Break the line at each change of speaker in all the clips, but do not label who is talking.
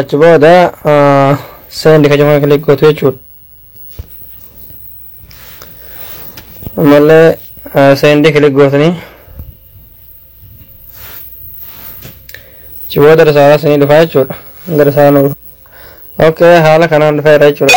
achi booda seendi ka jafan kilik gootu jechuudha ammallee seendi kilik gootanii achi booda risaalaa sinii dhufaa jechuudha hanga risaalaa nu dhufa okay haala kanaan dhufeera jechuudha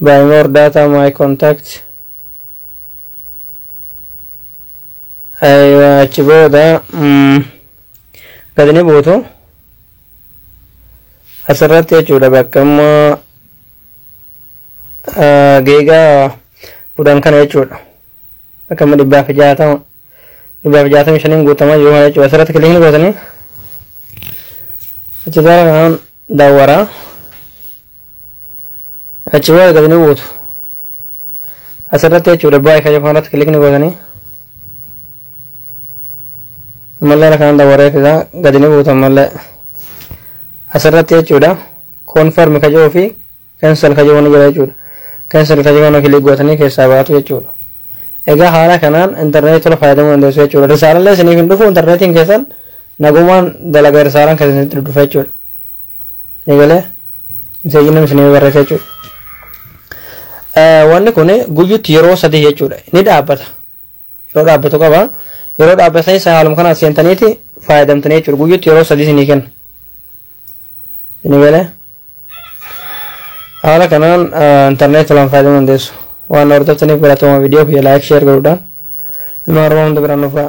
Buy more data my contact Aywa achi booda mm, gad ni buutu asirratti jechuudha bakka amma ah, geegaa kudhan kana jechuudha bakka amma dhibbaa fi jaatama dhibbaa fi jaatamii shaniin guutama jiru kana jechuudha asirratti kilikni gootanii achi jala kanaan dawara achi booda gadi ni buutu asirratti jechuudha baay'ee kan yookaan irratti kilikni gootanii ammallee kana kanaan dawaree fidaa gadi ni buutu ammallee asirratti jechuudha koonfarmi kajoo fi Cancel ka jedhu ni jira jechuudha. Cancel ka jedhu kana click gootanii keessaa baatu jechuudha. Egaa haala kanaan interneetii tola fayyadamuu dandeessu jechuudha. Risaalallee isiniif hin dhufu interneetiin keessan nagumaan dalaga risaalaan keessan isinitti dhufa jechuudha. Ni galee miseejii namni isiniif barreessa jechuudha. Wanni kun guyyuutti yeroo sadii jechuudha. Ni dhaabbata. yeroo dhaabbatu qaba yeroo dhaabbatu keessa haaluma kanaan seentaniiti fayyadamtanii jechuudha guyyutti yeroo sadii isinii kenna isinii galee haala kanaan intarneet tolaan fayyadamuu dandeessu waan na hordoftaniif galatooma viidiyoo kiyya laayik sheer godhuudhaan ilmaan oromoo hunda biraan dhufaa